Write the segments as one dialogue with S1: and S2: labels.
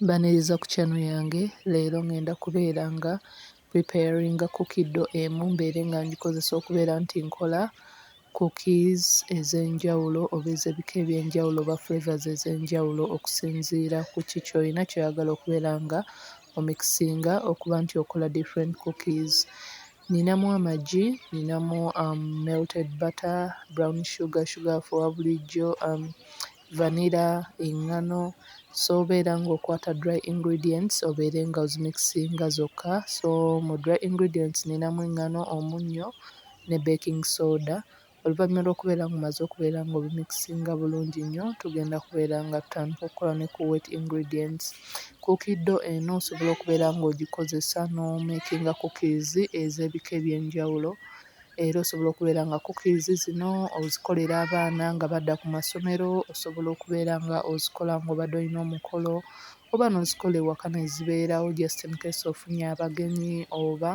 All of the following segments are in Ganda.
S1: Baniriza ku channel yange leero ngenda kubeera nga preparing cookie dough emu mbeere nga ngikozesa okubeera nti nkola cookies ez'enjawulo oba ez'ebika eby'enjawulo oba flavors ez'enjawulo okusinziira ku ki ky'olina ky'oyagala okubeera nga omikisinga okuba nti okola different cookies. Ninamu amagi, ninamu um, melted butter, brown sugar, sugar for bulijjo um, vanilla, engano so obeera ng'okwata dry ingredients obeere nga ozimikisinga zokka so mu dry ingredients ninamu engano, omunnyo ne baking soda oluvannyuma lw'okubeera ng'omaze okubeera ng'obimikisinga bulungi nnyo tugenda kubeera nga tutandika okukola ne ku wet ingredients. Cookie dough eno osobola okubeera ng'ogikozesa n'omeekinga cookies ez'ebika eby'enjawulo. Era osobola okubeera nga cookies zino ozikolera abaana nga badda ku masomero, osobola okubeera nga ozikola ng'obadde olina omukolo oba n'ozikola ewaka ne zibeerawo just in case ofunye abagenyi oba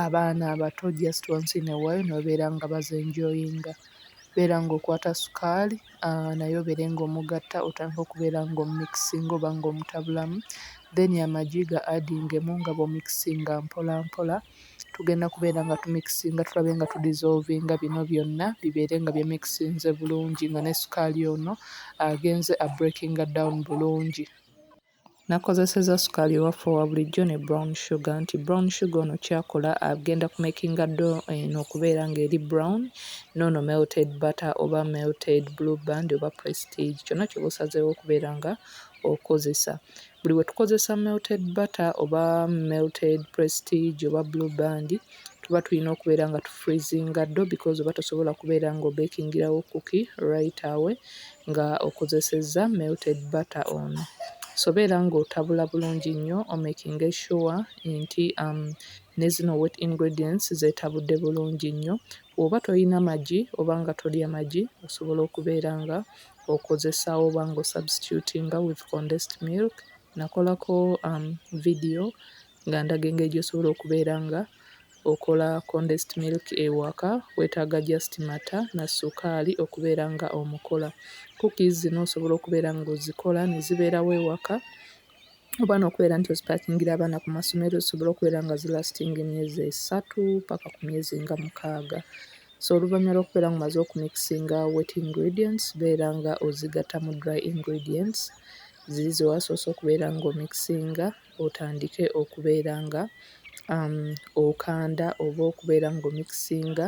S1: abaana abato just once in a while ne babeera nga bazi enjoyinga. Beera ng'okwata sukaali naye obeere ng'omugatta otandike okubeera ng'omumikisinga oba ng'omutabulamu then amagi ga adingemu nga bw'omikisinga mpolampola. tugenda kubeera nga tumikisinga tulabe nga tudizoovinga bino byonna bibeere nga byemikisinze bulungi nga ne sukaali ono agenze a breakinga down bulungi. Nakozesezza sukaali ewaffe owa bulijjo ne brown sugar nti brown sugar ono kyakola agenda kumakinga do eno okubeera ng'eri brown noono melted butter oba melted blue band oba prestige kyonna kyoba osazeewo okubeera nga okozesa. Buli we tukozesa melted butter oba melted prestige oba blue band tuba tulina okubeera nga tufreezinga ddo because oba tosobola kubeera nga obekingirawo kuki right away nga okozesezza melted butter ono. So beera ng'otabula bulungi nnyo omekinge sure nti um, ne zino wet ingredients zeetabudde bulungi nnyo. Bw'oba tolina magi oba nga tolya magi osobola okubeera nga okozesa oba nga osubstitutinga with condensed milk. Nakolako vidiyo nga ndaga engeri gy'osobola okubeera nga okola condensed milk ewaka, weetaaga just mata na ssukaali okubeera nga omukola. Cookies zino osobola okubeera ng'ozikola ne zibeerawo ewaka oba n'okubeera nti ozipakingira abaana ku masomero zisobole okubeera nga zilasitinga emyezi esatu paka ku myezi nga mukaaga. So oluvannyuma lw'okubeera nga omaze okumikisinga wet ingredients beera nga ozigatta mu dry ingredients ziri ze wasoose okubeera nga omikisinga otandike okubeera nga um, okanda oba okubeera nga omikisinga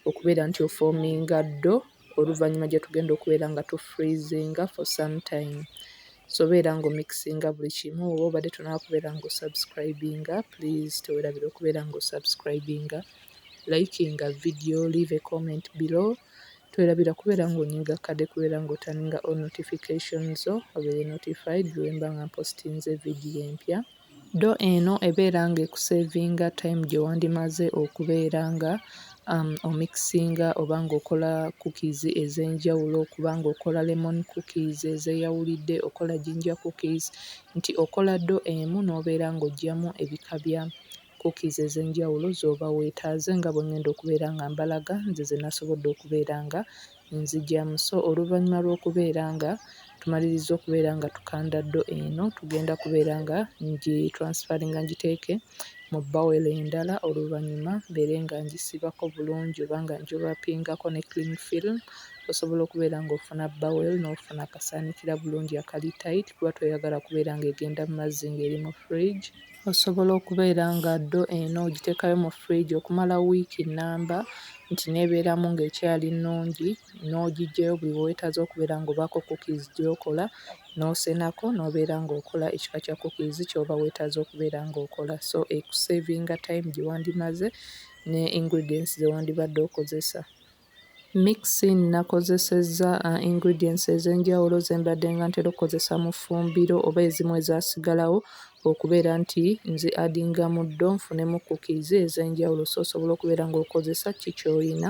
S1: okubeera nti ofoominga ddo oluvannyuma gyetugenda okubeera nga tu freezinga for some time so beera nga omikisinga buli kimu oba obadde tonaba kubeera nga osubscribinga please tewerabira okubeera nga osubscribinga likinga video leave a comment below twerabira kubeera nga onyiga kade kubeera nga otaninga all notification zo obeere notified lwemba nga mpostinze video empya Do eno ebeera nga ekusevinga time gyewandimaze okubeera nga um omikisinga oba nga okola cookies ezenjawulo okuba nga okola lemon cookies ezeyawulidde okola ginger cookies nti okola do emu nobeera nga ojjamu ebika bya cookies ezenjawulo zoba wetaaze nga bwengenda okubeera nga mbalaga nze zenasobodde okubeera nga Nzigya Muso, Oluvannyuma lw'okubeera nga tumalirizza okubeera nga tukanda ddo eno, tugenda kubeera nga ngi-transferringa ngiteeke mu bowel endala oluvannyuma mbeere nga ngisibako bulungi oba nga ngiwrappingako ne cling film osobola okubeera ng'ofuna bowel n'ofuna akasaanikira bulungi akali tight kuba toyagala kubeera ng'egenda mu mazzi ng'eri mu fridge. Osobola okubeera nga ddo eno ogiteekayo mu fridge okumala wiiki nnamba nti n'ebeeramu ng'ekyali nnungi n'ogiggyayo buli we weetaaze okubeera ng'obaako cookies gy'okola n'osenako n'obeera ng'okola ekika kya cookies ky'oba weetaaze okubeera ng'okola. So ekuseevinga time gye wandimaze ne ingredients ze wandibadde okozesa. Mixing, Nnakozesezza ingredients ez'enjawulo ze mbadde nga ntera okukozesa mu ffumbiro oba ezimu ezaasigalawo okubeera nti nzi addinga muddo nfunemu cookies ez'enjawulo so osobola okubeera ng'okozesa ki ky'olina.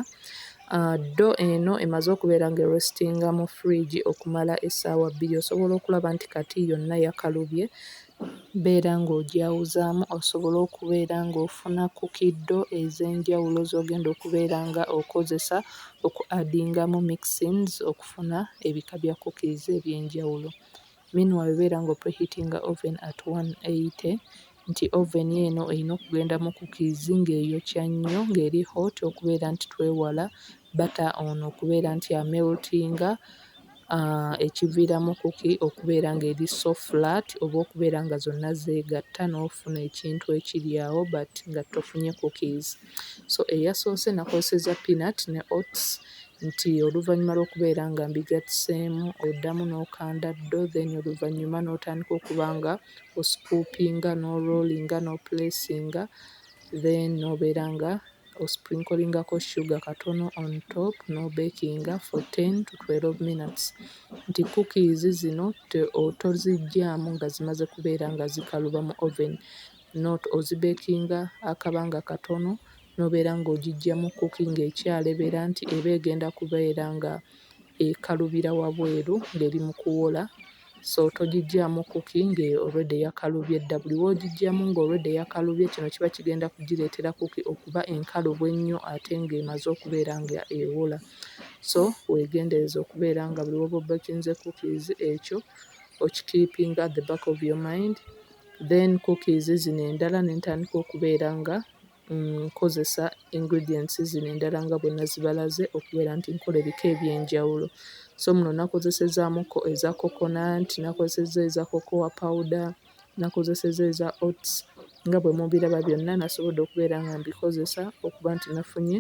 S1: Ah, ddo eno emaze okubeera nga erestinga mu fridge okumala essaawa bbiri osobola okulaba nti kati yonna yakalubye Beera ng'ogyawuzaamu osobole okubeera ng'ofuna ku kiddo ez'enjawulo z'ogenda okubeera nga okozesa oku adingamu mixings okufuna ebika bya cookies eby'enjawulo. Meanwhile beera ng'o preheatinga oven at one eighty nti oven eno eyina okugenda mu cookies ng'eyokya nnyo ng'eri hot okubeera nti twewala butter ono okubeera nti ameltinga ah, ekiviiramu kuki okubeera ng'eri so flat oba okubeera nga zonna zeegatta n'ofuna ekintu ekiri awo but nga tofunye cookies so eyasoose nakozeseza peanut ne oats nti oluvannyuma lw'okubeera nga mbigattiseemu oddamu n'okanda ddo then oluvannyuma n'otandika okuba nga oscoopinga n'orolinga n'opulesinga then n'obeera nga osprinklingaako sugar katono on top n'obekinga for ten to twelve minutes nti cookies zino to toziggyaamu nga zimaze kubeera nga zikaluba mu oven not ozibekinga akabanga katono n'obeera ng'ogiggya mu cooking ekyalebera nti eba egenda kubeera nga ekalubira wabweru ng'eri mu kuwola. so togigyamu kuki nga already yakalubye dda buli wogigyamu nga already yakalubye kino kiba kigenda kugireetera kuki okuba enkalubo ennyo ate nga emaze okubeera nga ewola so wegendereze okubeera nga buli woba obekinze cookies ekyo okikiipinga at the back of your mind then cookies zino endala nentandika okubeera nga nkozesa ingredients zino endala nga bwe nazibalaze okubeera nti nkola ebika eby'enjawulo. So muno nakozesezzaamukko eza coconut, nakozesezza eza cocoa powder, nakozesezza eza oats. Nga bwe mubiraba byonna nasobodde okubeera nga mbikozesa okuba nti nafunye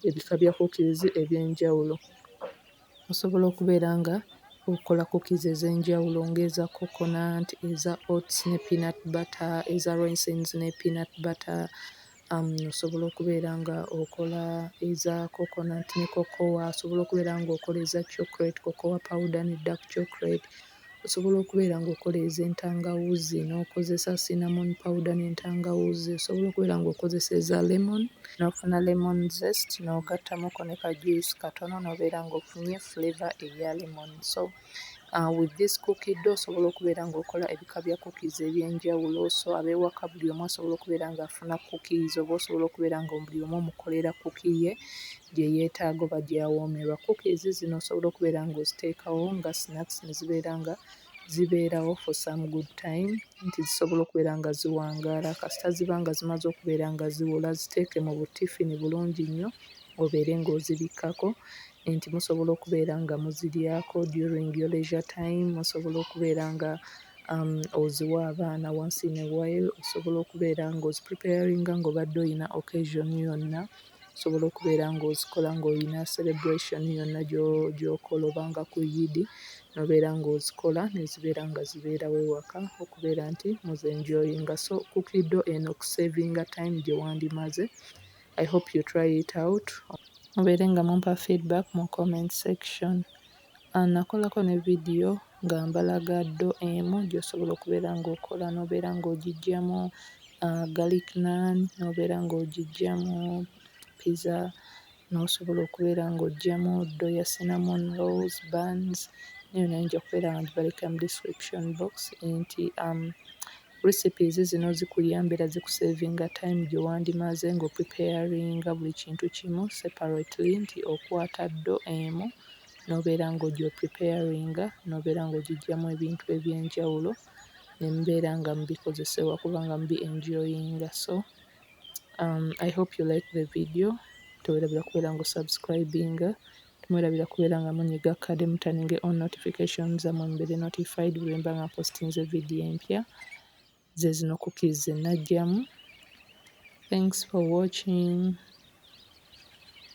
S1: ebika bya kukkirizi eby'enjawulo. Osobola okubeera nga okola cookies ez'enjawulo ng'eza coconut, eza oats ne peanut butter, eza raisins ne peanut butter, um, osobola okubeera nga okola eza coconut ne cocoa, osobola okubeera nga okola eza chocolate, cocoa powder ne dark chocolate, Osobola okubeera ng'okoleeza entangawuuzi n'okozesa cinnamon powder n'entangawuuzi, osobola okubeera ng'okozesa eza lemon n'ofuna lemon zest n'ogattamuko ne ka juice katono n'obeera ng'ofunye flavour eya lemon. So with this cookie dough osobola okubeera ng'okola ebika bya cookies eby'enjawulo so ab'ewaka buli omu asobola okubeera ng'afuna cookies oba osobola okubeera nga buli omu omukolera cookie ye gye yeetaaga oba gy'awoomerwa. Cookies zino osobola okubeera ng'oziteekawo nga snacks ne zibeera nga zibeerawo for some good time nti zisobola okubeera nga ziwangaala kasita ziba nga zimaze okubeera nga ziwola. Ziteeke mu buttifini bulungi nnyo obeere ng'ozibikkako nti musobola okubeera nga muziryako during your leisure time, musobola okubeera nga um oziwa abaana once in a while, osobola okubeera ng'ozipulipeyaringa ng'obadde olina occasion yonna. Osobola okubeera ng'ozikola ng'olina celebration yonna gy'okola oba nga ku Iddi n'obeera ng'ozikola ne zibeera nga zibeerawo ewaka okubeera nti muzi-enjoyinga. So Cookie Dough eno okuseevinga time gye wandimaze. I hope you try it out. Mubeere nga mumpa feedback mu comment section. Nakolako ne vidiyo nga mbalaga ddo emu gy'osobola okubeera ng'okola n'obeera ng'ogiggyamu garlic naan, n'obeera ng'ogiggyamu pizza, n'osobola okubeera ng'oggyamu ddo ya cinnamon rolls, buns, naye nayo nja kubeera ngibaleka mu description box nti... Recipes zino zikuyamba era zikusavinga time gyewandimaaze nga opreparinga buli kintu kimu separately nti okwata ddo emu nobeera nga ogyi opreparinga nobeera nga ogyijamu ebintu ebyenjawulo nemubeera nga mubikozesa ewaka oba nga mubi enjoyinga so I hope you like the video tewerabira kubeera nga osubscribinga Temwerabira kubeera nga munyiga kade mutaninge on notification zamwe mubere notified bwemba nga mpostinze video empya zezino cookies zenajjamu thanks for watching